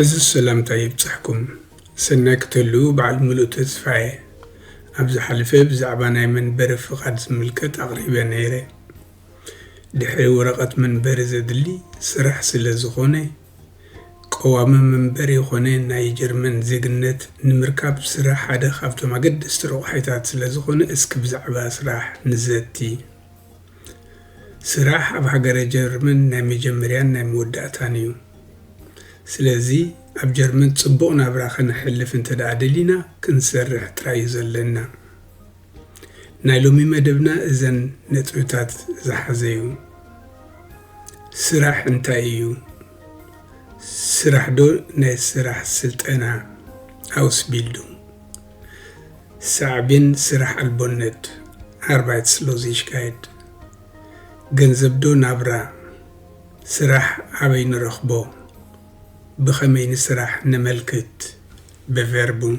ዕዙዝ ሰላምታይ ይብጻሕኩም። ሰናይ ክትህልዉ በዓል ምሉእ ተስፋ'የ። ኣብ ዝሓለፈ ብዛዕባ ናይ መንበሪ ፍቓድ ዝምልከት ኣቕሪበ ነይረ። ድሕሪ ወረቐት መንበሪ ዘድሊ ስራሕ ስለ ዝኾነ፣ ቀዋሚ መንበሪ ኮነ ናይ ጀርመን ዜግነት ንምርካብ ስራሕ ሓደ ካብቶም ኣገደስቲ ረቑሒታት ስለ ዝኾነ እስኪ ብዛዕባ ስራሕ ንዘቲ። ስራሕ ኣብ ሃገረ ጀርመን ናይ መጀመርያን ናይ መወዳእታን እዩ። ስለዚ ኣብ ጀርመን ጽቡቕ ናብራ ከነሕልፍ እንተድኣ ደሊና ክንሰርሕ ጥራይ እዩ ዘለና። ናይ ሎሚ መደብና እዘን ነጥብታት ዝሓዘ እዩ። ስራሕ እንታይ እዩ? ስራሕዶ ናይ ስራሕ ስልጠና፣ Ausbildung፣ ሳዕቤን ስራሕ ኣልቦነት፣ Arbeitslosigkeit፣ ገንዘብ ዶ ናብራ? ስራሕ ኣበይ ንረኽቦ? ብኸመይ ንስራሕ ነመልክት? Bewerbung።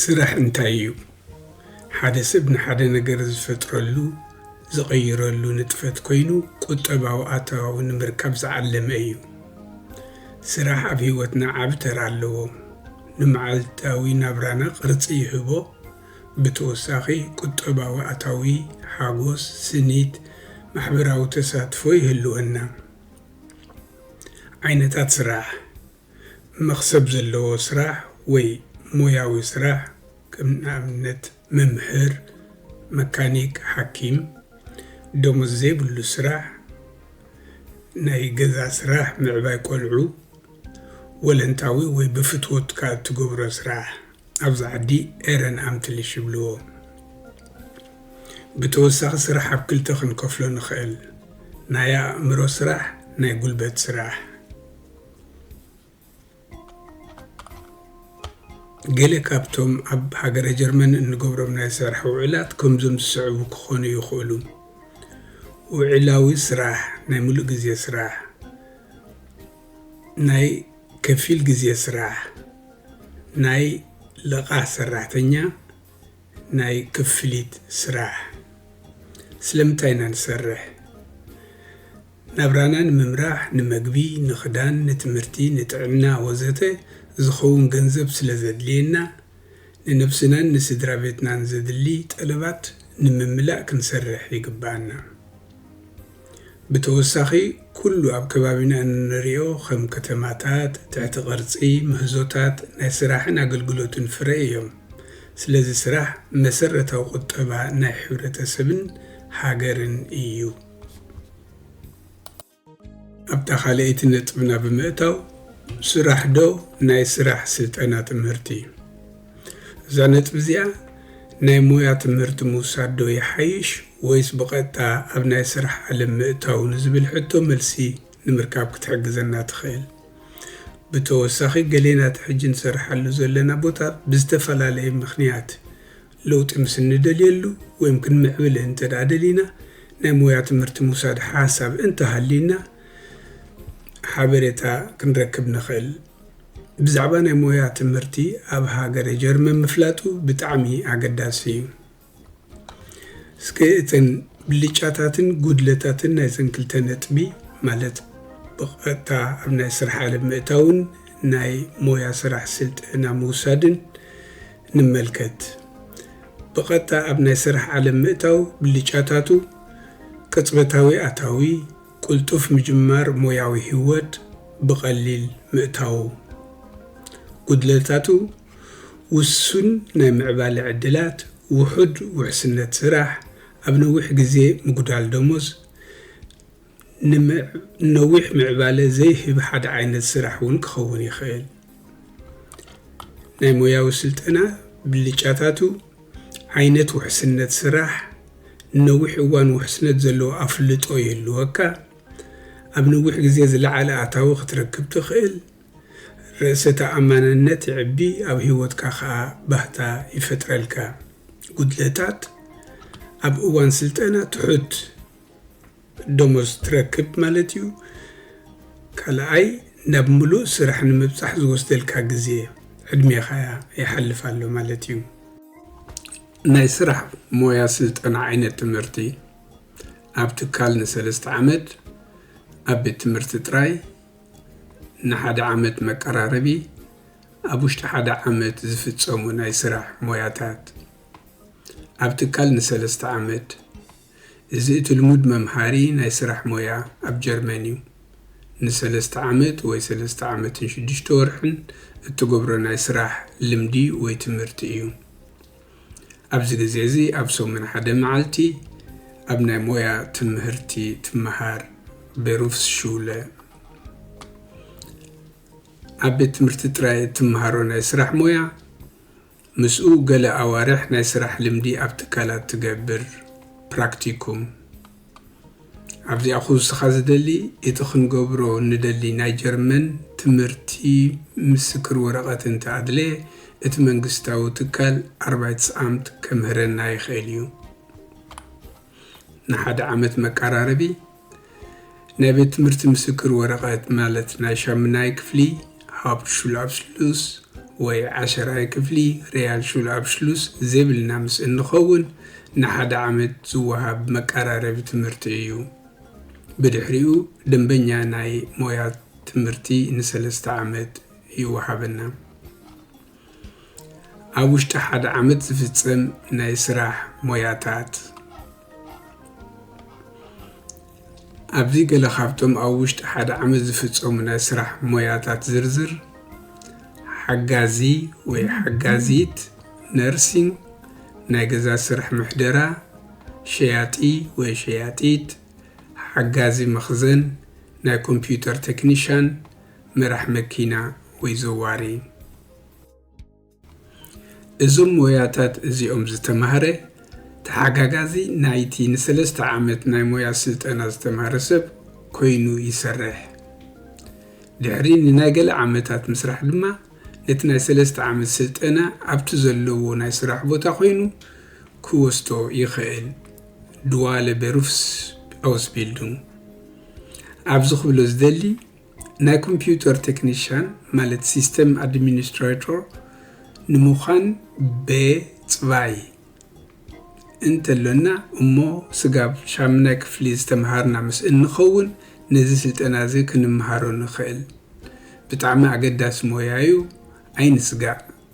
ስራሕ እንታይ እዩ? ሓደ ሰብ ንሓደ ነገር ዝፈጥረሉ፣ ዝቕይረሉ ንጥፈት ኮይኑ ቁጠባዊ ኣታዊ ንምርካብ ዝዓለመ እዩ። ስራሕ ኣብ ህይወትና ዓቢ ተራ ኣለዎ። ንመዓልታዊ ናብራና ቅርጺ ይህቦ፣ ብተወሳኺ ቁጠባዊ ኣታዊ፣ ሓጎስ፣ ስኒት፣ ማሕበራዊ ተሳትፎ ይህልወና። ዓይነታት ስራሕ፣ መኽሰብ ዘለዎ ስራሕ ወይ ሞያዊ ስራሕ ከም ንኣብነት መምህር፣ መካኒክ፣ ሓኪም። ደሞዝ ዘይብሉ ስራሕ፣ ናይ ገዛ ስራሕ፣ ምዕባይ ቆልዑ፣ ወለንታዊ ወይ ብፍትወትካ እትገብሮ ስራሕ ኣብዚ ዓዲ ኤረን ኣምትልሽ ይብልዎ። ብተወሳኺ ስራሕ ኣብ ክልተ ክንከፍሎ ንኽእል፣ ናይ ኣእምሮ ስራሕ ናይ ጉልበት ስራሕ። ገለ ካብቶም ኣብ ሃገረ ጀርመን እንገብሮም ናይ ስራሕ ውዕላት ከምዞም ዝስዕቡ ክኾኑ ይኽእሉ። ውዕላዊ ስራሕ፣ ናይ ምሉእ ግዜ ስራሕ። ናይ ከፊል ግዜ ስራሕ፣ ናይ ለቓሕ ሰራሕተኛ፣ ናይ ክፍሊት ስራሕ። ስለምንታይ ኢና ንሰርሕ? ናብራና ንምምራሕ፣ ንመግቢ፣ ንኽዳን፣ ንትምህርቲ፣ ንጥዕና ወዘተ ዝኸውን ገንዘብ ስለዘድልየና ንነብስናን ንስድራቤትናን ዘድሊ ጠለባት ንምምላእ ክንሰርሕ ይግብኣና። ብተወሳኺ ኩሉ ኣብ ከባቢና እንርእዮ ከም ከተማታት፣ ትሕቲ ቅርጺ፣ ምህዞታት ናይ ስራሕን ኣገልግሎትን ፍረ እዮም። ስለዚ ስራሕ መሰረታዊ ቁጠባ ናይ ሕብረተሰብን ሃገርን እዩ። ኣብታ ካልኣይቲ ነጥብና ብምእታው ስራሕ ዶ ናይ ስራሕ ስልጠና ትምህርቲ እዩ። እዛ ነጥቢ እዚኣ ናይ ሞያ ትምህርቲ ምውሳድ ዶ ይሓይሽ ወይስ ብቐጥታ ኣብ ናይ ስራሕ ዓለም ምእታው ንዝብል ሕቶ መልሲ ንምርካብ ክትሕግዘና ትኽእል። ብተወሳኺ ገሌና እቲ ሕጂ ንሰርሓሉ ዘለና ቦታ ብዝተፈላለየ ምኽንያት ለውጢ ምስ እንደልየሉ ወይም ክንምዕብል እንተድኣ ደሊና ናይ ሞያ ትምህርቲ ምውሳድ ሓሳብ እንተሃልዩና ሓበሬታ ክንረክብ ንኽእል። ብዛዕባ ናይ ሞያ ትምህርቲ ኣብ ሃገረ ጀርመን ምፍላጡ ብጣዕሚ ኣገዳሲ እዩ። እስከ እተን ብልጫታትን ጉድለታትን ናይዘን ክልተ ነጥቢ ማለት ብቐጥታ ኣብ ናይ ስራሕ ዓለም ምእታውን ናይ ሞያ ስራሕ ስልጠና ምውሳድን ንመልከት። ብቐጥታ ኣብ ናይ ስራሕ ዓለም ምእታው ብልጫታቱ፣ ቅጽበታዊ ኣታዊ፣ ቅልጡፍ ምጅማር ሞያዊ ህይወት፣ ብቐሊል ምእታው። ጉድለታቱ፣ ውሱን ናይ ምዕባለ ዕድላት፣ ውሑድ ውሕስነት ስራሕ፣ ኣብ ነዊሕ ግዜ ምጉዳል ደሞዝ፣ ንነዊሕ ምዕባለ ዘይህብ ሓደ ዓይነት ስራሕ እውን ክኸውን ይኽእል። ናይ ሞያዊ ስልጠና ብልጫታቱ፣ ዓይነት ውሕስነት ስራሕ፣ ንነዊሕ እዋን ውሕስነት ዘለዎ ኣፍልጦ ይህልወካ፣ ኣብ ነዊሕ ግዜ ዝለዓለ ኣታዊ ክትረክብ ትኽእል፣ ርእሰ ተኣማንነት የዕቢ፣ ኣብ ህይወትካ ከኣ ባህታ ይፈጥረልካ። ጉድለታት፣ ኣብ እዋን ስልጠና ትሑት። ደሞዝ ትረክብ ማለት እዩ። ካልኣይ ናብ ምሉእ ስራሕ ንምብጻሕ ዝወስደልካ ግዜ፣ ዕድሜኻ፣ ይሓልፍ ኣሎ ማለት እዩ። ናይ ስራሕ ሞያ ስልጠና ዓይነት ትምህርቲ ኣብ ትካል ንሰለስተ ዓመት፣ ኣብ ቤት ትምህርቲ ጥራይ ንሓደ ዓመት መቀራረቢ፣ ኣብ ውሽጢ ሓደ ዓመት ዝፍጸሙ ናይ ስራሕ ሞያታት ኣብ ትካል ንሰለስተ ዓመት፣ እዚ እቲ ልሙድ መምሃሪ ናይ ስራሕ ሞያ ኣብ ጀርመን እዩ። ንሰለስተ ዓመት ወይ ሰለስተ ዓመትን ሽዱሽተ ወርሕን እትገብሮ ናይ ስራሕ ልምዲ ወይ ትምህርቲ እዩ። ኣብዚ ግዜ እዚ ኣብ ሰሙን ሓደ መዓልቲ ኣብ ናይ ሞያ ትምህርቲ ትመሃር፣ Berufsschule። ኣብ ቤት ትምህርቲ ጥራይ እትመሃሮ ናይ ስራሕ ሞያ፣ ምስኡ ገለ ኣዋርሕ ናይ ስራሕ ልምዲ ኣብ ትካላት ትገብር፣ ፕራክቲኩም። ኣብዚኣ ኹውስኻ ዝደሊ እቲ ክንገብሮ ንደሊ ናይ ጀርመን ትምህርቲ ምስክር ወረቐት እንተ ኣድለየ እቲ መንግስታዊ ትካል ኣርባይትስኣምት ከምህረና ይኽእል እዩ። ንሓደ ዓመት መቃራረቢ ናይ ቤት ትምህርቲ ምስክር ወረቀት ማለት ናይ ሻምናይ ክፍሊ ሃብትሹልኣብስሉስ ወይ ዓሸራይ ክፍሊ ሪያልሹልኣብሽሉስ ዜብልና ምስ እንኸውን ንሓደ ዓመት ዝወሃብ መቃራረቢ ትምህርቲ እዩ። ብድሕሪኡ ደንበኛ ናይ ሞያ ትምህርቲ ንሰለስተ ዓመት ይወሃበና። ኣብ ውሽጢ ሓደ ዓመት ዝፍፀም ናይ ስራሕ ሞያታት ኣብዚ ገለ ካብቶም ኣብ ውሽጢ ሓደ ዓመት ዝፍፀሙ ናይ ስራሕ ሞያታት ዝርዝር ሓጋዚ ወይ ሓጋዚት ነርሲንግ፣ ናይ ገዛ ስራሕ ምሕደራ፣ ሸያጢ ወይ ሸያጢት፣ ሓጋዚ መኽዘን፣ ናይ ኮምፒዩተር ቴክኒሻን፣ መራሕ መኪና ወይ ዘዋሪ እዞም ሞያታት እዚኦም ዝተማህረ ተሓጋጋዚ ናይቲ ንሰለስተ ዓመት ናይ ሞያ ስልጠና ዝተማህረ ሰብ ኮይኑ ይሰርሕ። ድሕሪ ንናይ ገለ ዓመታት ምስራሕ ድማ ነቲ ናይ ሰለስተ ዓመት ስልጠና ኣብቲ ዘለዎ ናይ ስራሕ ቦታ ኮይኑ ክወስዶ ይኸእል፣ ድዋለ በሩፍስ ኣውስቢልዱንግ። ኣብዚ ክብሎ ዝደሊ ናይ ኮምፒዩተር ቴክኒሻን ማለት ሲስተም ኣድሚኒስትራቶር ንምዃን በ ፅባይ እንተሎና እሞ ስጋብ ሻምናይ ክፍሊ ዝተምሃርና ምስ እንኸውን ነዚ ስልጠና እዚ ክንምሃሮ ንኽእል። ብጣዕሚ ኣገዳሲ ሞያ ዩ ኣይንስጋእ።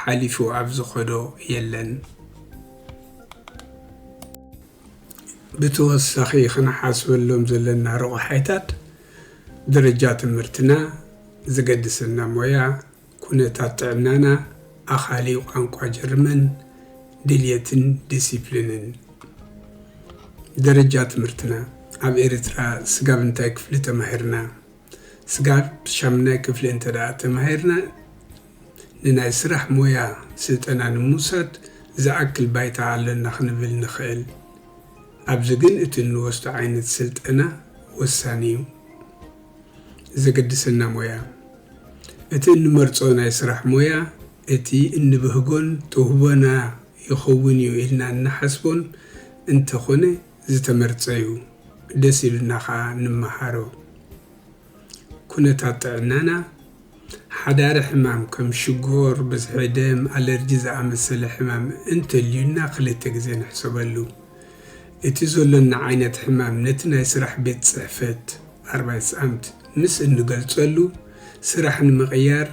ሓሊፉ ኣብ ዝኸዶ የለን። ብተወሳኺ ክንሓስበሎም ዘለና ረቑሓይታት ደረጃ ትምህርትና፣ ዝገድሰና ሞያ፣ ኩነታት ጥዕናና፣ ኣኻሊ ቋንቋ ጀርመን፣ ድልየትን ዲሲፕሊንን። ደረጃ ትምህርትና፣ ኣብ ኤርትራ ስጋብ እንታይ ክፍሊ ተማሂርና? ስጋብ ሻምናይ ክፍሊ እንተ ተማሂርና ንናይ ስራሕ ሞያ ስልጠና ንምውሳድ ዝኣክል ባይታ ኣሎና ክንብል ንኽእል። ኣብዚ ግን እቲ እንወስዶ ዓይነት ስልጠና ወሳኒ'ዩ። ዘገድሰና ሞያ። እቲ እንመርጾ ናይ ስራሕ ሞያ እቲ እንብህጎን ተውህቦና ይኸውን'ዩ ኢልና እንሓስቦን እንተ ኾነ፣ ዝተመርጸ ዩ ደስ ኢሉና ከኣ ንመሃሮ። ኩነታት ጥዕናና ሓዳሪ ሕማም ከም ሽጎር፣ ብዝሒ ደም፣ ኣለርጂ ዝኣመሰለ ሕማም እንተልዩና ክልተ ግዜ ንሕሰበሉ። እቲ ዘሎና ዓይነት ሕማም ነቲ ናይ ስራሕ ቤት ጽሕፈት፣ Arbeitsamt፣ ምስ እንገልጸሉ ስራሕ ንምቕያር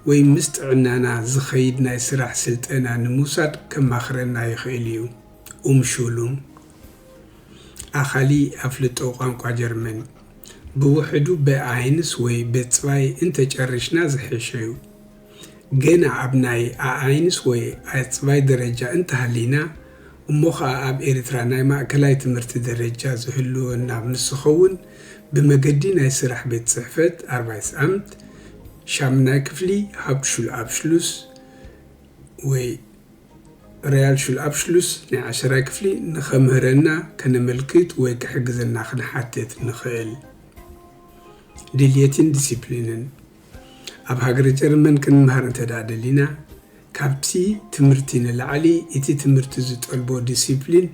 ወይ ምስ ጥዕናና ዝኸይድ ናይ ስራሕ ስልጠና ንምውሳድ ከማኽረና ይኽእል ዩ። ኡም ሹሉም፣ ኣኻሊ ኣፍልጦ ቋንቋ ጀርመን፣ ብውሕዱ በ-ኣይንስ ወይ በ-ጽባይ እንተ ጨሪሽና ዝሐሸ'ዩ። ገና ኣብ ናይ ኣ-ኣይንስ ወይ ኣጽባይ ደረጃ እንተ ሃሊና፣ እሞ ኸኣ ኣብ ኤርትራ ናይ ማእከላይ ትምህርቲ ደረጃ ዝህልወና ምስ ዝኸውን፣ ብመገዲ ናይ ስራሕ ቤት ጽሕፈት፣ Arbeitsamt፣ ሻምናይ ክፍሊ፣ Hauptschulabschluss፣ ወይ፣ Realschulabschluss ናይ ዓሸራይ ክፍሊ ንኸምህረና ከነመልክት ወይ ክሕግዘና ክንሓትት ንኽእል። Deletin Disziplinen ኣብ ሃገረ ጀርመን ክንምሃር እንተድኣ ደሊና፣ ካብቲ ትምህርቲ ንላዕሊ እቲ ትምህርቲ ዝጠልቦ ዲሲፕሊን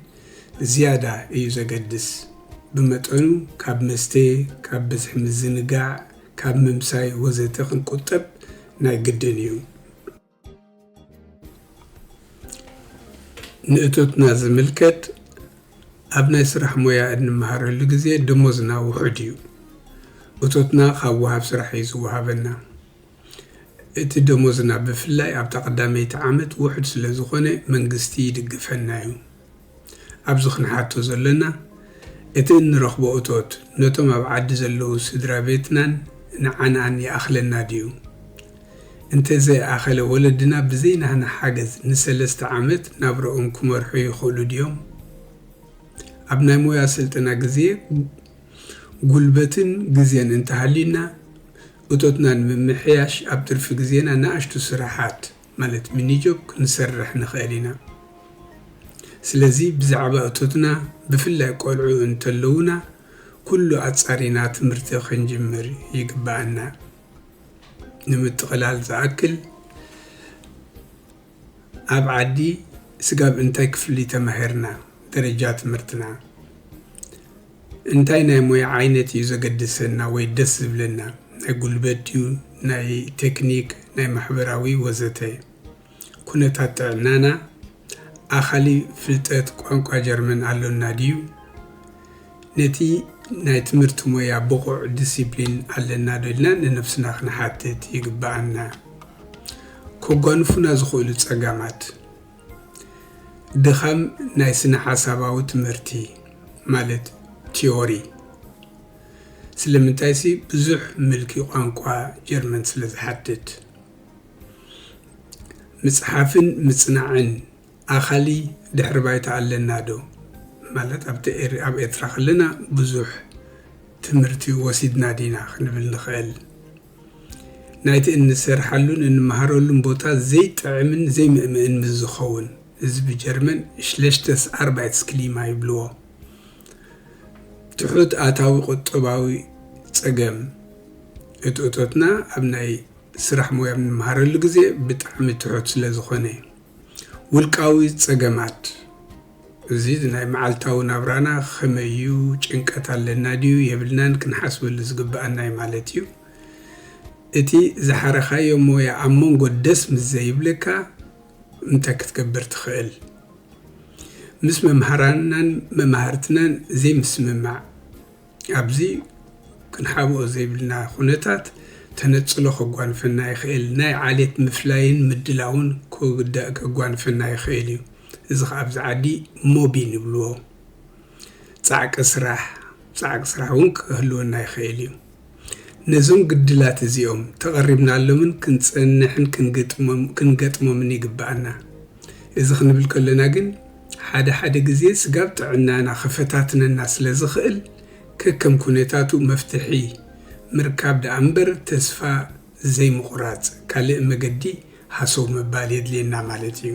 ዝያዳ እዩ ዘገድስ። ብመጠኑ ካብ መስተ፣ ካብ ብዝሒ ምዝንጋዕ፣ ካብ ምምሳይ ወዘተ ክንቁጠብ ናይ ግድን እዩ። ንእቶትና ዝምልከት ኣብ ናይ ስራሕ ሞያ እንመሃረሉ ግዜ ደሞዝና ውሑድ እዩ። እቶትና ካብ ወሃብ ስራሕ እዩ ዝወሃበና። እቲ ደሞዝና ብፍላይ ኣብታ ቀዳመይቲ ዓመት ውሑድ ስለዝኾነ መንግስቲ ይድግፈና እዩ። ኣብዚ ክንሓቶ ዘሎና፣ እቲ እንረኽቦ እቶት ነቶም ኣብ ዓዲ ዘለዉ ስድራ ቤትናን ንዓናን ይኣኽለና ድዩ? እንተ ዘይኣኸለ፣ ወለድና ብዘይ ናህና ሓገዝ ንሰለስተ ዓመት ናብራኦም ክመርሑ ይኽእሉ ድዮም? ኣብ ናይ ሞያ ስልጠና ግዜ፣ ጉልበትን ግዜን እንተሃልዩና፣ እቶትና ንምምሕያሽ ኣብ ትርፊ ግዜና ንኣሽቱ ስራሓት፣ ማለት ሚኒጆብ ክንሰርሕ ንኽእል ኢና። ስለዚ ብዛዕባ እቶትና ብፍላይ ቆልዑ እንተለዉና ኩሉ ኣጻሪና ትምህርቲ ክንጅምር ይግበኣና። ንምጥቕላል ዝኣክል ኣብ ዓዲ ስጋብ እንታይ ክፍሊ ተማሂርና፣ ደረጃ ትምህርትና። እንታይ ናይ ሞያ ዓይነት እዩ ዘገድሰና ወይ ደስ ዝብለና፣ ናይ ጉልበት ድዩ፣ ናይ ቴክኒክ፣ ናይ ማሕበራዊ ወዘተ። ኩነታት ጥዕናና፣ ኣኻሊ ፍልጠት ቋንቋ ጀርመን ኣሎና ድዩ፣ ነቲ ናይ ትምህርቲ ሞያ ብቑዕ ዲሲፕሊን ኣለና ዶ ኢልና ንነብስና ክንሓትት ይግብኣና። ከጓንፉና ዝኽእሉ ጸገማት። ድኻም ናይ ስነ-ሓሳባዊ ትምህርቲ ማለት ቲዮሪ ስለምንታይሲ ብዙሕ ምልኪ ቋንቋ ጀርመን ስለ ዝሓትት። ምጽሓፍን ምጽናዕን ኣኻሊ ድሕሪ ባይታ ኣለና ዶ? ማለት ኣብቲ ኤር ኣብ ኤርትራ ከለና ብዙሕ ትምህርቲ ወሲድና ዲና ክንብል ንኽእል። ናይቲ እንሰርሓሉን እንመሃረሉን ቦታ ዘይጥዕምን ዘይምእምእን ምስ ዝኸውን፣ እዚ ብጀርመን ሽለሽተስ ኣርባይትስክሊማ ይብልዎ፣ ትሑት ኣታዊ ቁጠባዊ ጸገም፣ እቲ እቶትና ኣብ ናይ ስራሕ ሞያ ኣብ እንመሃረሉ ግዜ ብጣዕሚ ትሑት ስለ ዝኾነ። ውልቃዊ ጸገማት። እዚ ናይ መዓልታዊ ናብራና ኸመይ እዩ? ጭንቀት ኣለና ድዩ የብልናን ክንሓስበሉ ዝግብኣና እዩ ማለት እዩ። እቲ ዝሓረኻዮ ሞያ ኣብ መንጎ ደስ ምስ ዘይብለካ እንታይ ክትገብር ትኽእል? ምስ መምሃራንናን መማህርትናን ዘይምስምማዕ። ኣብዚ ክንሓብኦ ዘይብልና ኩነታት ተነጽሎ ከጓንፈና ይኽእል፣ ናይ ዓሌት ምፍላይን ምድላውን ከጓንፈና ይኽእል እዩ። እዚ ከኣ ኣብዚ ዓዲ ሞቢን ይብልዎ። ጻዕቂ ስራሕ፣ ጻዕቂ ስራሕ እውን ክህልወና ይኽእል እዩ። ነዞም ግድላት እዚኦም ተቐሪብናሎምን ክንጸንሕን ክንገጥሞምን ይግበኣና። እዚ ክንብል ከሎና ግን፣ ሓደ ሓደ ግዜ ስጋብ ጥዕናና ክፈታትነና ስለ ዝኽእል ከከም ኩነታቱ መፍትሒ ምርካብ ደኣ እምበር ተስፋ ዘይምቑራጽ ካልእ መገዲ ሃሰው ምባል የድልየና ማለት እዩ።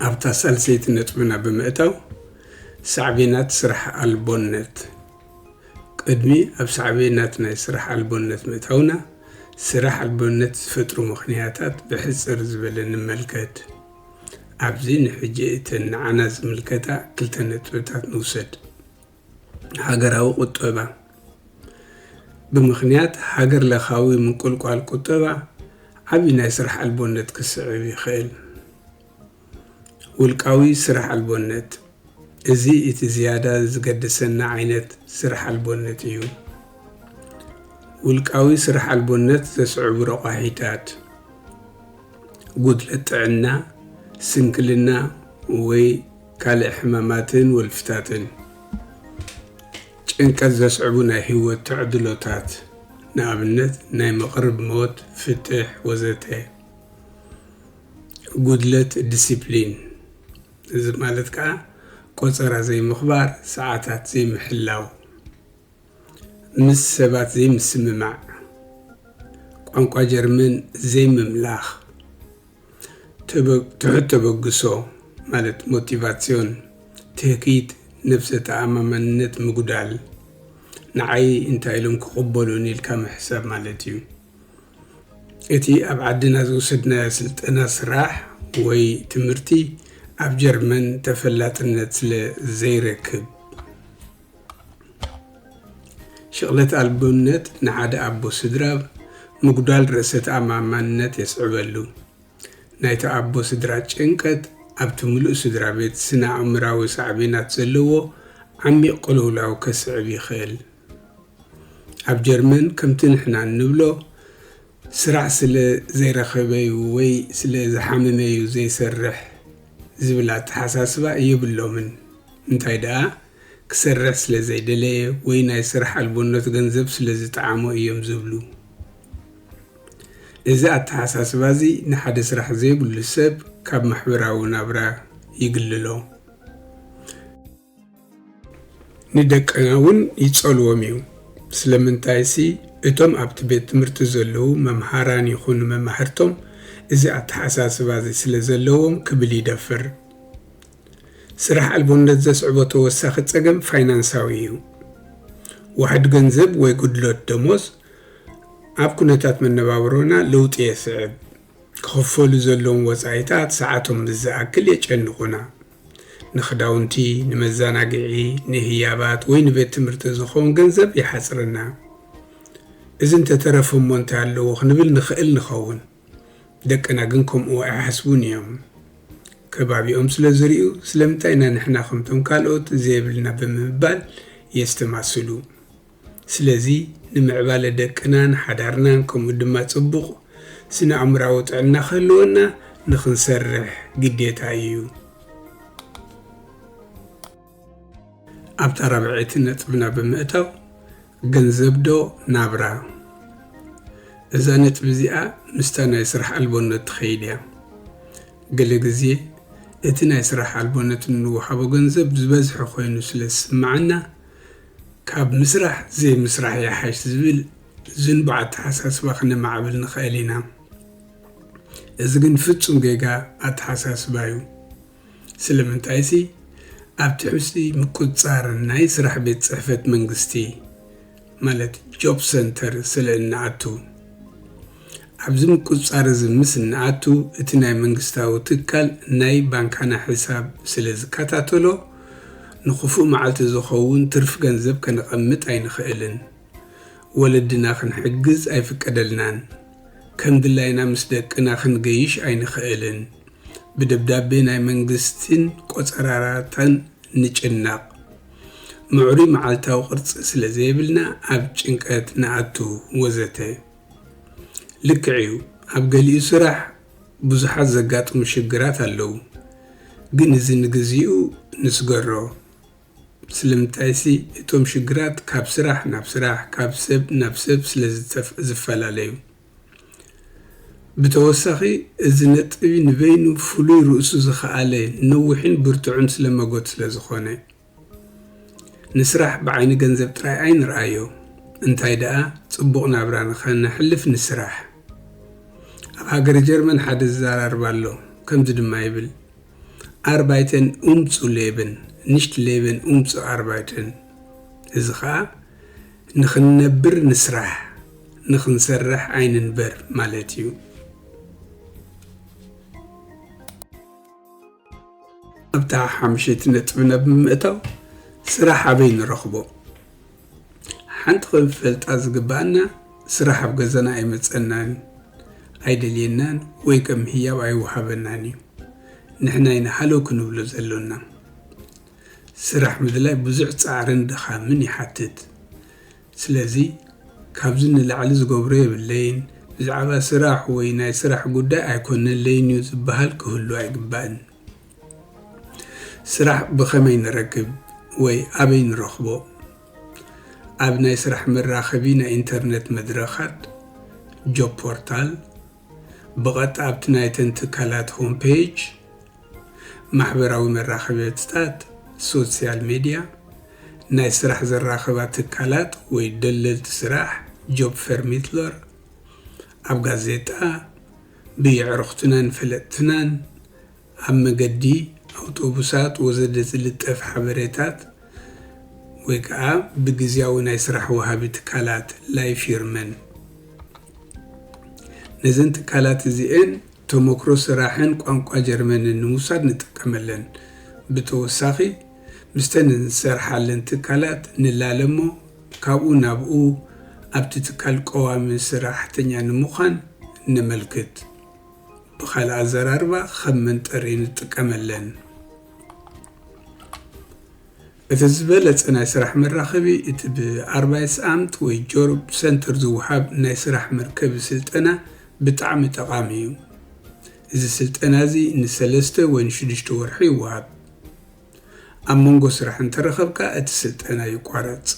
ኣብታ ሳልሰይቲ ነጥብና ብምእታው ሳዕቤናት ስራሕ ኣልቦነት። ቅድሚ ኣብ ሳዕቤናት ናይ ስራሕ ኣልቦነት ምእታውና፣ ስራሕ ኣልቦነት ዝፈጥሩ ምኽንያታት ብሕጽር ዝበለ ንመልከት። ኣብዚ ንሕጂ እተን ንዓና ዝምልከታ ክልተ ነጥብታት ንውሰድ። ሃገራዊ ቁጠባ፣ ብምኽንያት ሃገር ለኻዊ ምንቁልቋል ቁጠባ ዓቢ ናይ ስራሕ ኣልቦነት ክስዕብ ይኽእል። ውልቃዊ ስራሕ ኣልቦነት፣ እዚ እቲ ዝያዳ ዝገድሰና ዓይነት ስራሕ ኣልቦነት እዩ። ውልቃዊ ስራሕ ኣልቦነት ዘስዕቡ ረቋሒታት፣ ጉድለት ጥዕና፣ ስንክልና ወይ ካልእ ሕማማትን ወልፍታትን። ጭንቀት ዘስዕቡ ናይ ህይወት ተዕድሎታት፣ ንኣብነት ናይ መቕርብ ሞት፣ ፍትሕ ወዘተ። ጉድለት ዲሲፕሊን፣ እዚ ማለት ከኣ ቆጸራ ዘይምኽባር፣ ሰዓታት ዘይምሕላው፣ ምስ ሰባት ዘይምስምማዕ፣ ቋንቋ ጀርመን ዘይምምላኽ፣ ትሑት ተበግሶ ማለት Motivation፣ ትህኪት፣ ነብሰ ተኣማማንነት ምጉዳል፣ ንዓይ እንታይ ኢሎም ክቕበሉኒ ኢልካ ምሕሳብ ማለት እዩ። እቲ ኣብ ዓድና ዝወሰድናዮ ስልጠና ስራሕ ወይ ትምህርቲ ኣብ ጀርመን ተፈላጥነት ስለ ዘይረክብ። ሽቕለት ኣልቦነት ንሓደ ኣቦ ስድራ ምጉዳል ርእሰ ተኣማማንነት የስዕበሉ። ናይቲ ኣቦ ስድራ ጭንቀት ኣብቲ ምሉእ ስድራ ቤት ስነ ኣእምራዊ ሳዕቤናት ዘለዎ ዓሚቕ ቅልውላው ከስዕብ ይኽእል። ኣብ ጀርመን ከምቲ ንሕና እንብሎ ስራሕ ስለ ዘይረኸበ'ዩ ወይ ስለ ዝሓመመ'ዩ ዘይሰርሕ ዝብል ኣተሓሳስባ የብሎምን። እንታይ ደኣ ክሰርሕ ስለ ዘይደለየ ወይ ናይ ስራሕ ኣልቦነት ገንዘብ ስለ ዝጠዓሞ እዮም ዝብሉ። እዚ ኣተሓሳስባ'ዚ ንሓደ ስራሕ ዘይብሉ ሰብ ካብ ማሕበራዊ ናብራ ይግልሎ። ንደቅና እውን ይጸልዎም እዩ። ስለምንታይሲ እቶም ኣብቲ ቤት ትምህርቲ ዘለዉ መምሃራን ይኹኑ መማህርቶም እዚ ኣተሓሳስባ እዚ ስለ ዘለዎም ክብል ይደፍር። ስራሕ ኣልቦነት ዘስዕቦ ተወሳኺ ጸገም ፋይናንሳዊ እዩ። ዋሕዲ ገንዘብ ወይ ጉድለት ደሞዝ ኣብ ኩነታት መነባብሮና ለውጢ የስዕብ። ክኽፈሉ ዘለዎም ወጻኢታት ሰዓቶም ምስ ዝኣክል የጨንቑና። ንኽዳውንቲ፣ ንመዘናግዒ፣ ንህያባት ወይ ንቤት ትምህርቲ ዝኸውን ገንዘብ ይሓጽረና። እዚ እንተ ተረፈ እሞ እንታይ ኣለዎ ክንብል ንኽእል ንኸውን። ደቅና ግን ከምኡ ኣይሓስቡን ኢዮም። ከባቢኦም ስለ ዝርእዩ ስለምንታይ ኢና ንሕና ከምቶም ካልኦት ዘይብልና ብምባል የስተማስሉ። ስለዚ ንምዕባለ ደቅናን ሓዳርናን ከምኡ ድማ ጽቡቕ ስነ-ኣእምሮኣዊ ጥዕና ክህልወና ንኽንሰርሕ ግዴታ እዩ። ኣብታ ራብዐይቲ ነጥብና ብምእታው፣ ገንዘብዶ ናብራ? እዛ ነጥቢ እዚኣ ምስታ ናይ ስራሕ ኣልቦነት ትኸይድ እያ። ገለ ግዜ እቲ ናይ ስራሕ ኣልቦነት እንወሃቦ ገንዘብ ዝበዝሐ ኮይኑ ስለ ዝስምዓና፣ ካብ ምስራሕ ዘይምስራሕ ይሓሽ ዝብል ዝንቡዕ ኣተሓሳስባ ክነማዕብል ንኸእል ኢና። እዚ ግን ፍጹም ጌጋ ኣተሓሳስባ እዩ። ስለምንታይሲ ኣብ ትሕቲ ምቁጽጻር ናይ ስራሕ ቤት ጽሕፈት መንግስቲ ማለት ጆብ ሰንተር ስለ እንኣቱ። ኣብዚ ምቁጽጻር እዚ ምስ እንኣቱ፣ እቲ ናይ መንግስታዊ ትካል ናይ ባንካና ሕሳብ ስለ ዝከታተሎ፣ ንኽፉእ መዓልቲ ዝኸውን ትርፍ ገንዘብ ከነቐምጥ ኣይንኽእልን። ወለድና ክንሕግዝ ኣይፍቀደልናን። ከም ድላይና ምስ ደቅና ክንገይሽ ኣይንኽእልን። ብደብዳቤ ናይ መንግስቲን ቆጸራራታን ንጭነቕ። ምዕሩይ መዓልታዊ ቅርጺ ስለ ዘይብልና ኣብ ጭንቀት ንኣቱ። ወዘተ። ልክዕ እዩ ኣብ ገሊኡ ስራሕ ብዙሓት ዘጋጥሙ ሽግራት ኣለዉ ግን እዚ ንግዚኡ ንስገሮ ስለምንታይሲ እቶም ሽግራት ካብ ስራሕ ናብ ስራሕ ካብ ሰብ ናብ ሰብ ስለ ዝፈላለዩ ብተወሳኺ እዚ ነጥቢ ንበይኑ ፍሉይ ርእሱ ዝኸኣለ ነዊሕን ብርቱዕን ስለመጎት ስለ ዝኾነ ንስራሕ ብዓይኒ ገንዘብ ጥራይ ኣይንርኣዮ እንታይ ደኣ ጽቡቕ ናብራ ንኸነሕልፍ ንስራሕ። ኣብ ሃገረ ጀርመን ሓደ ዝዘራርብ ኣሎ ከምዚ ድማ ይብል Arbeiten um zu leben nicht leben um zu arbeiten እዚ ኸኣ ንኽንነብር ንስራሕ ንኽንሰርሕ ኣይንንበር ማለት እዩ። ኣብታ ሓምሸይቲ ነጥቢ ናብ ምምእታው፣ ስራሕ ኣበይ ንረኽቦ? ሓንቲ ክንፈልጣ ዝግብኣና፣ ስራሕ ኣብ ገዛና ኣይመጸናን እዩ። ኣይደልየናን ወይ ከም ህያብ ኣይወሃበናን እዩ። ንሕና ኢና ሃለው ክንብሎ ዘሎና። ስራሕ ምድላይ ብዙሕ ጻዕርን ድኻምን ይሓትት። ስለዚ ካብዚ ንላዕሊ ዝገብሮ የብለይን፣ ብዛዕባ ስራሕ ወይ ናይ ስራሕ ጉዳይ ኣይኮነለይን እዩ ዝበሃል ክህሉ ኣይግባእን። ስራሕ ብኸመይ ንረክብ ወይ ኣበይ ንረኽቦ? ኣብ ናይ ስራሕ መራኸቢ ናይ ኢንተርነት መድረኻት፣ ጆብ ፖርታል፣ ብቐጥታ ኣብቲ ናይተን ትካላት ሆም ፔጅ፣ ማሕበራዊ መራኸቢትታት፣ ሶሲያል ሜድያ፣ ናይ ስራሕ ዘራኽባ ትካላት ወይ ደለልቲ ስራሕ፣ Jobförmedlare፣ ኣብ ጋዜጣ፣ ብየዕሩኽትናን ፈለጥትናን፣ ኣብ መገዲ ኣውቶቡሳት ወዘተ ዝልጠፍ ሓበሬታት ወይ ከኣ ብግዝያዊ ናይ ስራሕ ወሃቢ ትካላት፣ Leihfirmen፣ ነዘን ትካላት እዚኤን፣ ተሞክሮ ስራሕን ቋንቋ ጀርመንን ንምውሳድ ንጥቀመለን። ብተወሳኺ ምስተን እንሰርሓለን ትካላት ንላለ እሞ ካብኡ ናብኡ ኣብቲ ትካል ቀዋሚ ስራሕተኛ ንምዃን ነመልክት። ብኻልእ ኣዘራርባ ኸም መንጠሪ ንጥቀመለን። እቲ ዝበለጸ ናይ ስራሕ መራኸቢ እቲ ብኣርባይትስኣምት ወይ ጆርብ ሰንተር ዝወሃብ ናይ ስራሕ መርከቢ ስልጠና ብጣዕሚ ጠቓሚ እዩ። እዚ ስልጠና እዚ ንሰለስተ ወይ ንሽዱሽተ ወርሒ ይወሃብ። ኣብ መንጎ ስራሕ እንተረኸብካ እቲ ስልጠና ይቋረጽ።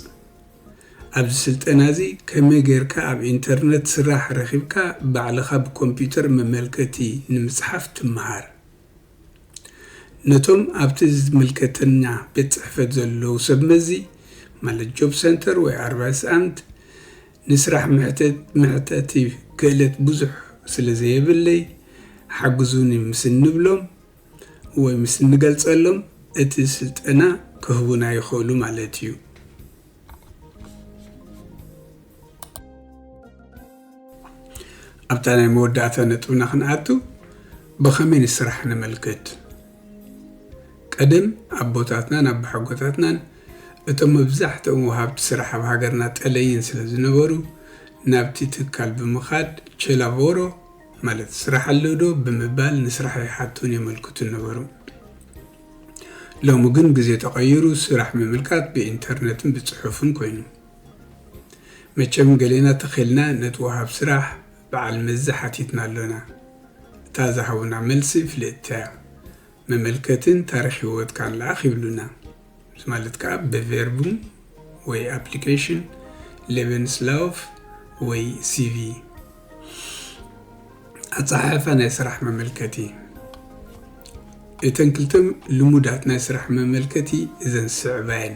ኣብዚ ስልጠና እዚ ከመይ ጌርካ ኣብ ኢንተርነት ስራሕ ረኺብካ ባዕልኻ ብኮምፒተር መመልከቲ ንምጽሓፍ ትመሃር። ነቶም ኣብቲ ዝምልከተና ቤት ጽሕፈት ዘለዉ ሰብ መዚ ማለት ጆብ ሰንተር ወይ ኣርባይስኣምት ንስራሕ መሕተት መሕተቲ ክእለት ብዙሕ ስለ ዘየብለይ ሓግዙኒ ምስ እንብሎም ወይ ምስ እንገልጸሎም እቲ ስልጠና ክህቡና ይኽእሉ ማለት እዩ። ኣብታ ናይ መወዳእታ ነጥብና ክንኣቱ ብኸመይ ንስራሕ ነመልክት ቀደም ኣቦታትናን ኣቦሓጎታትናን እቶም መብዛሕትኦም ወሃብቲ ስራሕ ኣብ ሃገርና ጠለይን ስለ ዝነበሩ ናብቲ ትካል ብምኻድ ቼላቮሮ ማለት ስራሕ ኣለዶ ብምባል ንስራሕ ይሓቱን የመልክቱን ነበሩ ሎሚ ግን ግዜ ተቐይሩ ስራሕ ምምልካት ብኢንተርነትን ብፅሑፍን ኮይኑ መቸም ገሌና ተኺልና ነቲ ወሃብ ስራሕ በዓል መዚ ሓቲትና ኣሎና። እታ ዝሃቡና መልሲ ፍልጥቲ'ያ። መመልከትን ታሪኽ ህይወትካን ልኣኽ ይብሉና። እዚ ማለት ከኣ ብቬርቡም ወይ ኣፕሊኬሽን፣ ሌበንስላውፍ ወይ ሲቪ፣ ኣጸሓሕፋ ናይ ስራሕ መመልከቲ። እተን ክልተ ልሙዳት ናይ ስራሕ መመልከቲ እዘን ዝስዕባ'የን።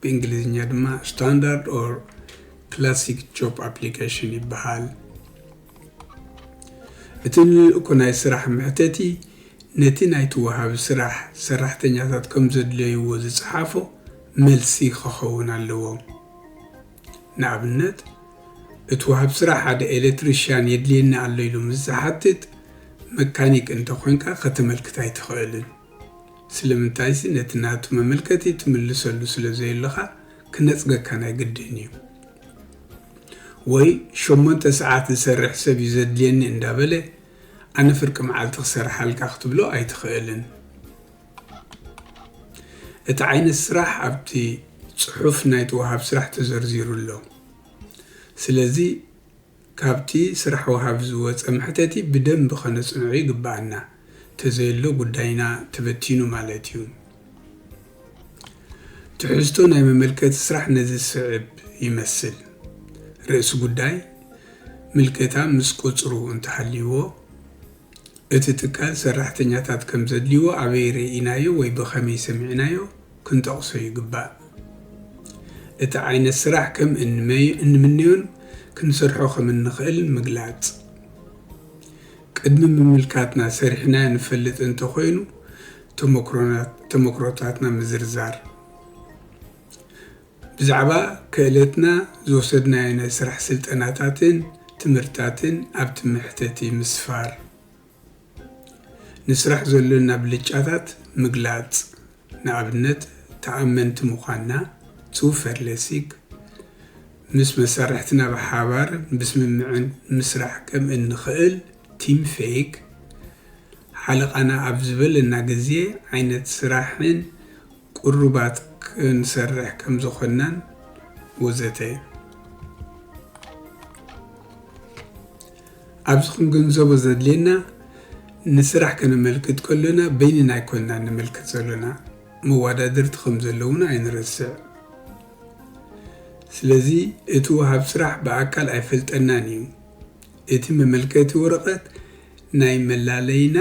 ብእንግሊዝኛ ድማ ስታንዳርድ ኦር ክላሲክ ጆብ ኣፕሊኬሽን ይበሃል። እቲ ልኡኽ ናይ ስራሕ መሕተቲ ነቲ ናይቲ ወሃቢ ስራሕ ሰራሕተኛታት ከም ዘድለይዎ ዝጸሓፎ መልሲ ክኸውን ኣለዎ። ንኣብነት፣ እቲ ወሃብ ስራሕ ሓደ ኤለትሪሽያን የድልየኒ ኣሎ ኢሉ ምስ ዝሓትት፣ መካኒክ እንተ ኾይንካ ከተመልክት ኣይትኽእልን። ስለምንታይሲ ነቲ ናቱ መመልከቲ ትምልሰሉ ስለ ዘየለኻ ክነጽገካ ናይ ግድን እዩ። ወይ ሸሞንተ ሰዓት ዝሰርሕ ሰብ እዩ ዘድልየኒ እንዳበለ ኣነ ፍርቂ መዓልቲ ክሰርሓልካ ክትብሎ ኣይትኽእልን። እቲ ዓይነት ስራሕ ኣብቲ ጽሑፍ ናይቲ ወሃብ ስራሕ ተዘርዚሩ ኣሎ። ስለዚ ካብቲ ስራሕ ወሃቢ ዝወጸ መሕተቲ ብደንቢ ከነጽንዖ ይግበኣና፣ ተዘየሎ ጉዳይና ተበቲኑ ማለት እዩ። ትሕዝቶ ናይ መመልከቲ ስራሕ ነዚ ዝስዕብ ይመስል፣ ርእሲ ጉዳይ፣ ምልከታ ምስ ቁጽሩ እንተሃልይዎ፣ እቲ ትካል ሰራሕተኛታት ከምዘድልይዎ ኣበይ ርኢናዮ ወይ ብኸመይ ሰሚዕናዮ፣ ክንጠቕሶ ይግባእ። እቲ ዓይነት ስራሕ ከም እንምነዮን ክንሰርሖ ከም እንኽእልን ምግላጽ። ቅድሚ ምምልካትና ሰሪሕናዮ ንፈልጥ እንተ ኾይኑ ተሞክሮታትና ምዝርዛር። ብዛዕባ ክእለትና ዝወሰድናዮ ናይ ስራሕ ስልጠናታትን ትምህርትታትን ኣብቲ መሕተቲ ምስፋር። ንስራሕ ዘሎና ብልጫታት ምግላጽ፣ ንኣብነት ተኣመንቲ ምዃንና፣ Zuverlässig፣ ምስ መሳርሕትና ብሓባር ብስምምዕን ምስራሕ ከም እንኽእል፣ Teamfähig፣ ሓለቓና ኣብ ዝበለና ግዜ፣ ዓይነት ስራሕን ቁሩባት ክንሰርሕ ከም ዝኾንናን ወዘተ እዩ። ኣብዚ ክንግንዘቦ ዘድልየና ንስራሕ ከነመልክት ከሎና በይንና ኣይኮንናን ነመልክት ዘሎና፣ መወዳድርቲ ከም ዘለዉና ኣይንረስዕ። ስለዚ እቲ ወሃብ ስራሕ ብኣካል ኣይፈልጠናን እዩ። እቲ መመልከቲ ወረቐት ናይ መላለይና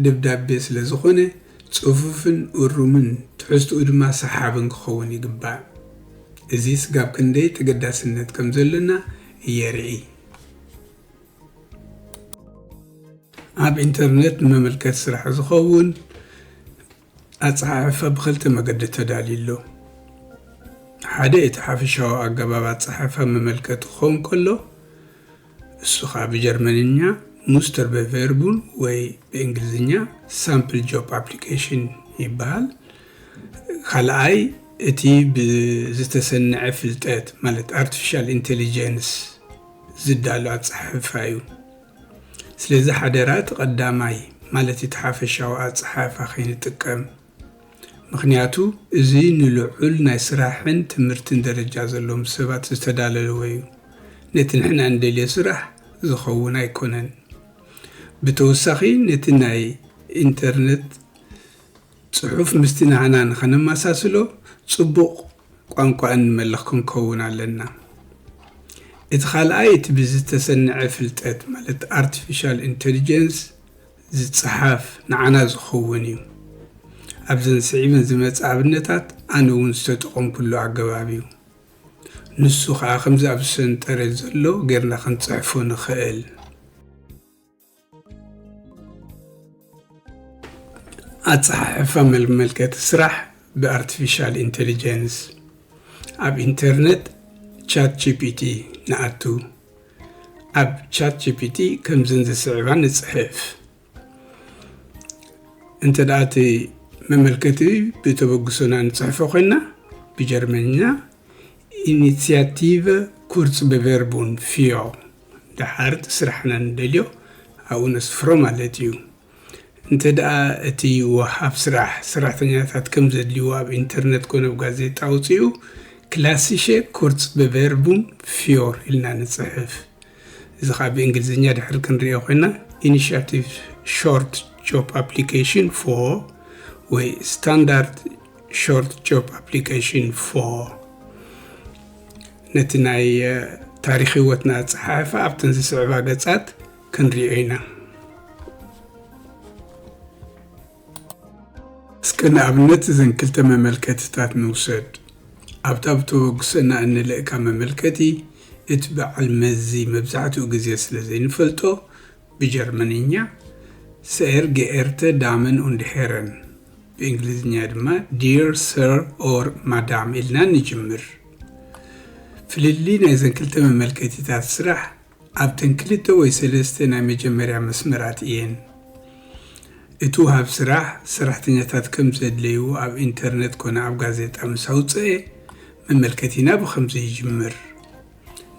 ደብዳቤ ስለ ዝኾነ ጽፉፍን እሩምን ትሕዝትኡ ድማ ሰሓብን ክኸውን ይግባእ። እዚ ስጋብ ክንደይ ተገዳስነት ከም ዘሎና የርኢ። ኣብ ኢንተርነት ንመመልከቲ ስራሕ ዝኸውን። ኣጸሓሕፋ ብኽልተ መገዲ ተዳልዩ ኣሎ። ሓደ እቲ ሓፈሻዊ ኣገባብ ኣጸሓሕፋ መመልከቲ ክኸውን ከሎ፣ እሱ ከኣ ብጀርመንኛ Musterbewerbung ወይ ብእንግሊዝኛ Sample Job Application ይበሃል። ካልኣይ እቲ ብዝተሰነዐ ፍልጠት ማለት ኣርቲፊሻል ኢንተሊጀንስ ዝዳሎ ኣጸሓሕፋ እዩ። ስለዚ ሓደራ እቲ ቀዳማይ ማለት እቲ ሓፈሻዊ ኣጸሓሕፋ ከይንጥቀም። ምኽንያቱ እዚ ንልዑል ናይ ስራሕን ትምህርትን ደረጃ ዘለዎም ሰባት ዝተዳለለወ እዩ። ነቲ ንሕና እንደልዮ ስራሕ ዝኸውን ኣይኮነን። ብተወሳኺ ነቲ ናይ ኢንተርነት ጽሑፍ ምስቲ ናህና ንኸነመሳስሎ ጽቡቕ ቋንቋ እንመልኽ ክንከውን ኣለና። እቲ ካልኣይ እቲ ብዝተሰነዐ ፍልጠት ማለት ኣርቲፊሻል ኢንተሊጀንስ ዝጸሓፍ ንዓና ዝኸውን እዩ። ኣብዘን ስዒበን ዝመጻ ኣብነታት ኣነ እውን ዝተጠቐምኩሉ ኣገባብ እዩ። ንሱ ከኣ ከምዚ ኣብዚ ሰንጠረዥ ዘሎ ጌርና ክንጽሕፎ ንኸእል። ኣፀሓሕፋ መልመልከቲ ስራሕ ብኣርቲፊሻል ኢንቴሊጀንስ ኣብ ኢንተርነት ቻት ጂፒቲ ንኣቱ ኣብ ቻት ጂፒቲ ከምዝን ዝስዕባ ንፅሕፍ እንተ ደኣ እቲ መመልከቲ ብተበግሶና ንፅሕፎ ኮይና ብጀርመንኛ ኢኒትያቲቭ ኩርፅ ብቨርቡን ፊዮ ደሓር እቲ ስራሕና ንደልዮ ኣብኡ ነስፍሮ ማለት እዩ። እንተድኣ እቲ ወሃብ ስራሕ ሰራሕተኛታት ከም ዘድልይዎ ኣብ ኢንተርነት ኮነ ኣብ ጋዜጣ ኣውጺኡ፣ ክላሲሸ ኩርጽበቨርቡም ፍዮር ኢልና ንጽሕፍ። እዚ ከኣ ብእንግሊዝኛ ድሕሪ ክንርእዮ ኮይና ኢኒሻቲቭ ሾርት ጆብ ኣፕሊኬሽን ፎር ወይ ስታንዳርድ ሾርት ጆብ ኣፕሊኬሽን ፎር ነቲ ናይ ታሪኽ ህይወትና ኣጸሓሕፋ ኣብተን ዝስዕባ ገጻት ክንሪኦ ኢና። እስከ ንኣብነት እዘን ክልተ መመልከትታት ንውሰድ። ኣብታ ብተበግሶና እንልእካ መመልከቲ፣ እቲ በዓል መዚ መብዛሕትኡ ግዜ ስለ ዘይንፈልጦ፣ ብጀርመንኛ፣ ሰኤር ገኤርተ ዳመን ኡንድ ሄረን፣ ብእንግሊዝኛ ድማ ዲር ሰር ኦር ማዳም ኢልና ንጅምር። ፍልልይ ናይዘን ክልተ መመልከቲታት ስራሕ ኣብተን ክልተ ወይ ሰለስተ ናይ መጀመርያ መስመራት እየን። እቲ ውሃብ ስራሕ ሰራሕተኛታት ከም ዘድለዩ ኣብ ኢንተርነት ኮነ ኣብ ጋዜጣ ምስ ኣውጸኤ መመልከቲና ብኸምዚ ይጅምር።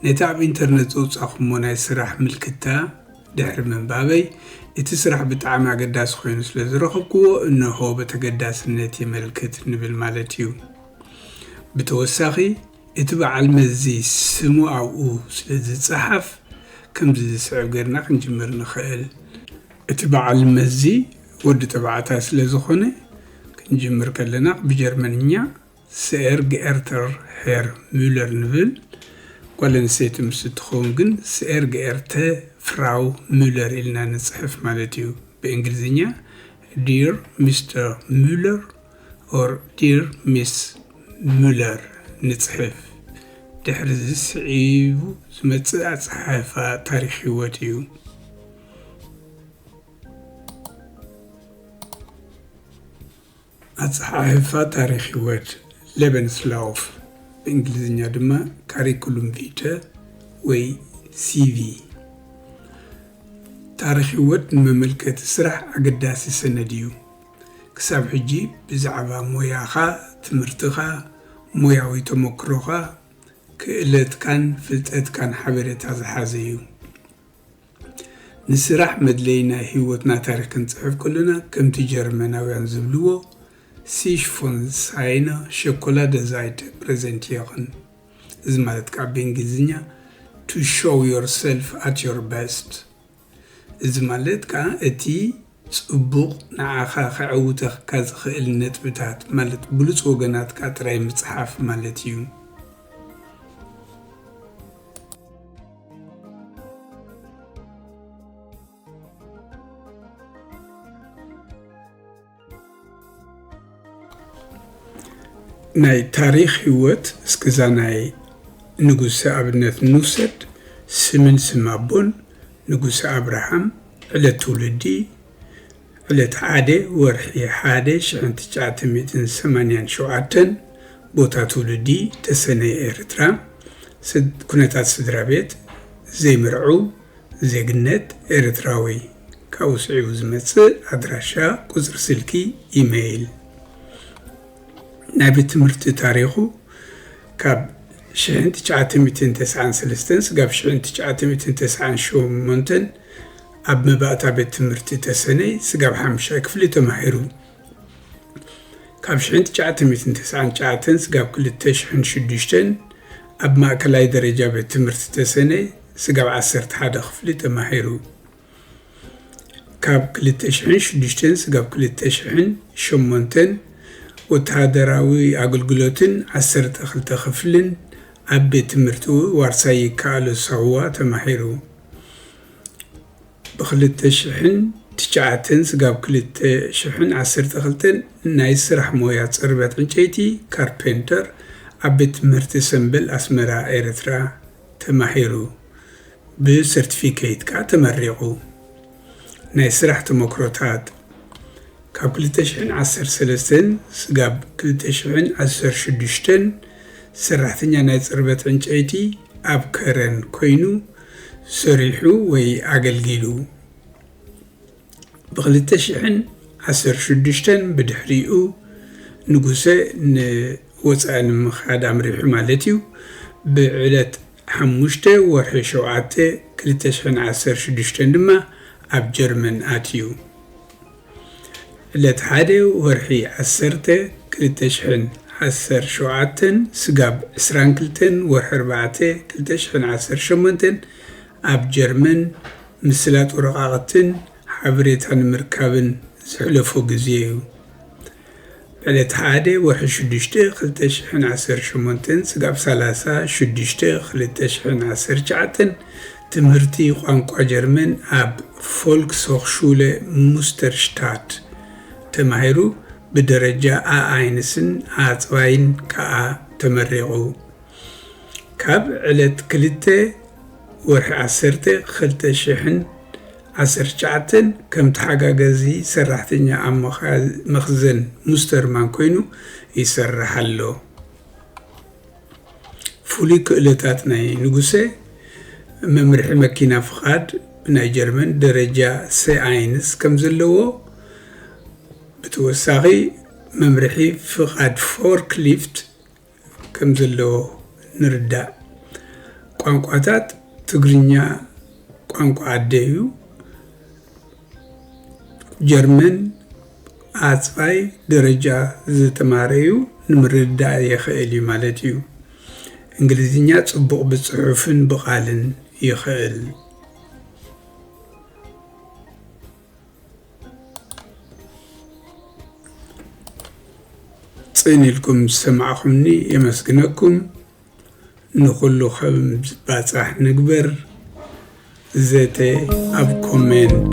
ነቲ ኣብ ኢንተርነት ዘውጻኹሞ ናይ ስራሕ ምልክታ ድሕሪ ምንባበይ፣ እቲ ስራሕ ብጣዕሚ ኣገዳሲ ኮይኑ ስለ ዝረኸብኩዎ እነሆ በተገዳስነት የመልክት ንብል ማለት እዩ። ብተወሳኺ እቲ በዓል መዚ ስሙ ኣብኡ ስለ ዝጸሓፍ ከምዚ ዝስዕብ ገርና ክንጅምር ንኸእል። እቲ በዓል መዚ ወዲ ተባዕታይ ስለ ዝኾነ ክንጅምር ከለና ብጀርመንኛ ሰኤር ገኤርተር ሄር ሙለር ንብል፣ ጓል ኣንስተይቲ ምስ እትኸውን ግን ሰኤር ገኤርተ ፍራው ሙለር ኢልና ንጽሕፍ ማለት እዩ፣ ብእንግሊዝኛ ዲር ሚስተር ሙለር ኦር ዲር ሚስ ሙለር ንጽሕፍ። ድሕሪዚ ስዒቡ ዝመጽእ ኣጸሓሕፋ ታሪኽ ህይወት እዩ። ኣጸሓሕፋ ታሪኽ ህይወት፣ Lebenslauf፣ ብእንግሊዝኛ ድማ ካሪኩሉም ቪተ ወይ ሲቪ፣ ታሪኽ ህይወት ንመመልከቲ ስራሕ ኣገዳሲ ሰነድ እዩ። ክሳብ ሕጂ ብዛዕባ ሞያኻ፣ ትምህርትኻ፣ ሞያዊ ተመክሮኻ፣ ክእለትካን ፍልጠትካን ሓበሬታ ዝሓዘ እዩ። ንስራሕ መድለዪ ናይ ህይወትና ታሪኽ ክንጽሕፍ ከሎና ከምቲ ጀርመናውያን ዝብልዎ ሲሽ ፎን ሳይነ ሸኮላደ ዛይተ ፕረዘንቲረን እዚ ማለት ከኣ ብእንግሊዝኛ ቱ ሾው ዮርሰልፍ ኣት ዮር በስት እዚ ማለት ከኣ እቲ ጽቡቕ ንዓኻ ከዐውተኽካ ዝኽእል ነጥብታት ማለት ብሉጽ ወገናትካ ጥራይ ምጽሓፍ ማለት እዩ። ናይ ታሪኽ ሂወት እስክዛ ናይ ንጉሰ ኣብነት ንውሰድ ስምን ስም ኣቦን ንጉሰ ኣብርሃም ዕለት ትውልዲ ዕለት ሓደ ወርሒ ሓደ ሽሕን ትጭዓተ ሚእትን ሰማንያን ሸውዓተን ቦታ ትውልዲ ተሰነይ ኤርትራ ኩነታት ስድራቤት ዘይምርዕው ዜግነት ኤርትራዊ ካብኡ ስዒቡ ዝመጽእ ኣድራሻ፣ ቁጽሪ ስልኪ፣ ኢመይል። ናይ ቤት ትምህርቲ ታሪኹ ካብ ሽሕን ትሽዓተ ሚእትን ተስዓን ሰለስተን ስጋብ ሽሕን ትሽዓተ ሚእትን ተስዓን ሸሞንተን ኣብ መባእታ ቤት ትምህርቲ ተሰነይ ስጋብ ሓሙሻይ ክፍሊ ተማሂሩ። ካብ ሽሕን ትሽዓተ ሚእትን ተስዓን ትሽዓተን ስጋብ ክልተ ሽሕን ሽዱሽተን ኣብ ማእከላይ ደረጃ ቤት ትምህርቲ ተሰነይ ስጋብ ዓሰርተ ሓደ ክፍሊ ተማሂሩ። ካብ ክልተ ሽሕን ሽዱሽተን ስጋብ ክልተ ሽሕን ሸሞንተን ወተሃደራዊ ኣገልግሎትን ዓሰርተ ክልተ ክፍልን ኣብ ቤት ትምህርቲ ዋርሳይ ይከኣሎ ሳዋ ተማሂሩ። ብክልተ ሽሕን ትሽዓተን ስጋብ ክልተ ሽሕን ዓሰርተ ክልተን ናይ ስራሕ ሞያ ጽርበት ዕንጨይቲ፣ ካርፔንተር፣ ኣብ ቤት ትምህርቲ ሰምበል ኣስመራ ኤርትራ ተማሂሩ። ብሰርቲፊኬት ከኣ ተመሪቑ። ናይ ስራሕ ተሞክሮታት፣ ካብ ክልተ ሽሕን ዓሰርተ ሰለስተን ስጋብ ክልተ ሽሕን ዓሰርተ ሽዱሽተን ሰራሕተኛ ናይ ጽርበት ዕንጨይቲ ኣብ ከረን ኰይኑ ሰሪሑ ወይ ኣገልጊሉ። ብክልተ ሽሕን ዓሰርተ ሽዱሽተን ብድሕሪኡ ንጉሰ ንወጻኢ ንምኻድ ኣምሪሑ ማለት'ዩ፣ ብዕለት ሓሙሽተ ወርሒ ሸውዓተ ክልተ ሽሕን ዓሰርተ ሽዱሽተን ድማ ኣብ ጀርመን ኣትዩ። ዕለት ሓደ ወርሒ ዓሰርተ ክልተ ሽሕን ዓሰርተ ሸውዓተን ስጋብ ዕስራን ክልተን ወርሒ ኣርባዕተ ክልተ ሽሕን ዓሰርተ ሸሞንተን ኣብ ጀርመን ምስላጥ ወረቓቕትን ሓበሬታ ንምርካብን ዘሕለፎ ግዜ'ዩ። ዕለት ሓደ ወርሒ ሽዱሽተ ክልተ ሽሕን ዓሰርተ ሸሞንተን ስጋብ ሰላሳ ሽዱሽተ ክልተ ሽሕን ዓሰርተ ትሽዓተን ትምህርቲ ቋንቋ ጀርመን ኣብ ፎልክስሆኽሹለ ሙስተርሽታት ተማሂሩ ብደረጃ ኣኣይንስን ኣጽባይን ከኣ ተመሪቑ። ካብ ዕለት ክልተ ወርሒ ዓሰርተ ክልተ ሽሕን ዓሰርተ ትሽዓተ ከም ተሓጋጋዚ ሰራሕተኛ ኣብ መኽዘን ሙስተርማን ኮይኑ ይሰርሕ ኣሎ። ፍሉይ ክእለታት ናይ ንጉሰ፣ መምርሒ መኪና ፍቓድ ብናይ ጀርመን ደረጃ ሰ-ኣይንስ ከም ዘለዎ፣ ብተወሳኺ መምርሒ ፍቓድ ፎርክሊፍት፣ ከም ዘለዎ ንርዳእ። ቋንቋታት ትግርኛ ቋንቋ ኣደ እዩ። ጀርመን ኣጽፋይ ደረጃ ዝተማረዩ ንምርዳእ የኸእል እዩ ማለት እዩ። እንግሊዝኛ ጽቡቕ ብጽሑፍን ብቓልን ይኸእል። ጽን ኢልኩም ዝሰማዕኹምኒ የመስግነኩም። ንኹሉ ከም ዝባጻሕ ንግበር። ዘተ ኣብ ኮሜንት